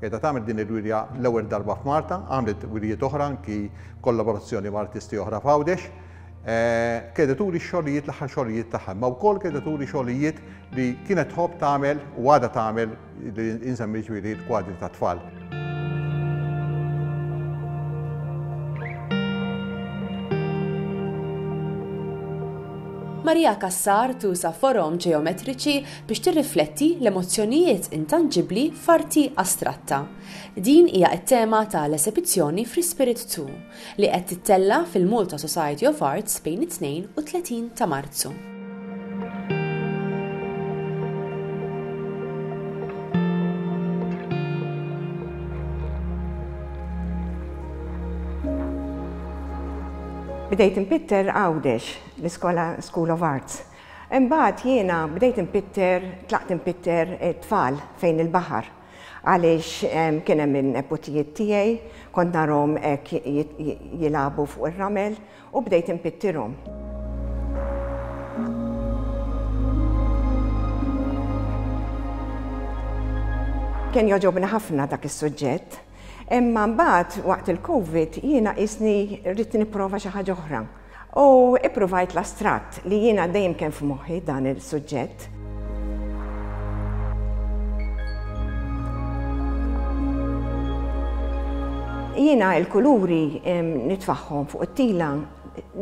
Qiegħda tagħmel din il-wirja l-ewwel darba f'Malta, għamlet wirjiet oħra anki b'kollaborazzjoni ma' artisti oħra f'Għawdex. Qiegħda turi x-xogħlijiet, l-aħħar xogħlijiet tagħha, imma wkoll qiegħda turi xogħlijiet li kienet tħobb tagħmel u għadha tagħmel li insemmi jiġifieri l-kwadri tat-tfal. Maria Cassar tuża forom ġeometriċi biex tirrifletti l-emozzjonijiet intanġibbli f'arti astratta. Din hija t-tema ta' l-esebizzjoni Fri-Spirit Too, li qed tittella' fil-Malta Society of Arts bejn it-Tnejn u t-Tletin ta' Marzu. Bdejt inpitter Għawdex, l-iskola School of Arts. Imbagħad jiena bdejt inpitter, tlaqt inpitter it-tfal fejn il-baħar għaliex kien hemm in-neputijiet tiegħi, kont narhom hekk jilagħbu fuq ir-ramel u bdejt inpittirhom. Kien jogħġobni ħafna dak is-suġġett, imma mbagħad waqt il-Covid jiena qisni rrid nipprova xi ħaġa oħra. U ippruvajt l-astratt li jiena dejjem kien f'moħħi dan il-suġġett. Jiena il-kuluri nitfaħħom fuq it-tila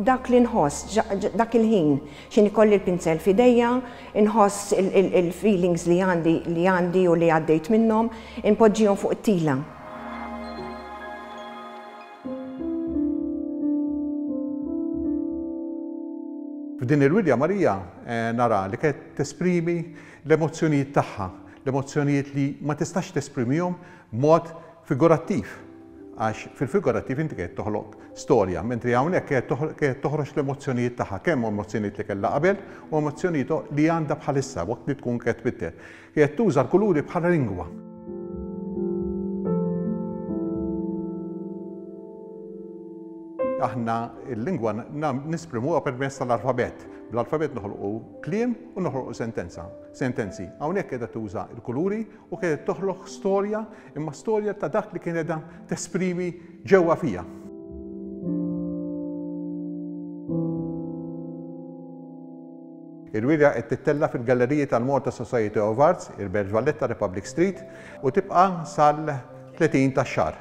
dak li nħoss, dak il-ħin, xin ikolli l-pinzel fideja, nħoss il-feelings li għandi li għandi u li għaddejt minnom, inpoġġijom fuq it-tila. F'din il-wirja Marija nara li qed tesprimi l-emozzjonijiet tagħha, l-emozzjonijiet li ma tistax tesprimihom b'mod figurattiv, għax fil-figurattiv inti qiegħed toħloq storja, mentri hawnhekk qiegħed toħroġ l-emozzjonijiet tagħha, kemm emozzjonijiet li kellha qabel u emozzjonijiet li għandha bħalissa waqt li tkun qed tbiddel. Qiegħed tuża l-kuluri bħala lingwa. Aħna l-lingwa nisprimuha permezz tal-alfabet. Bl-alfabet noħolqu kliem u noħolqu sentenza. Sentenzi. Hawnhekk qiegħda tuża l-kuluri u qiegħed toħloq storja Imma storja ta' dak li kien qiegħda tesprimi ġewwa fija. Il-wirja qed tittella' fil-Galleriji tal-Malta Society of Arts, il-Belġ Valletta, Republic Street, u tibqa' sal-30 tax-xahar.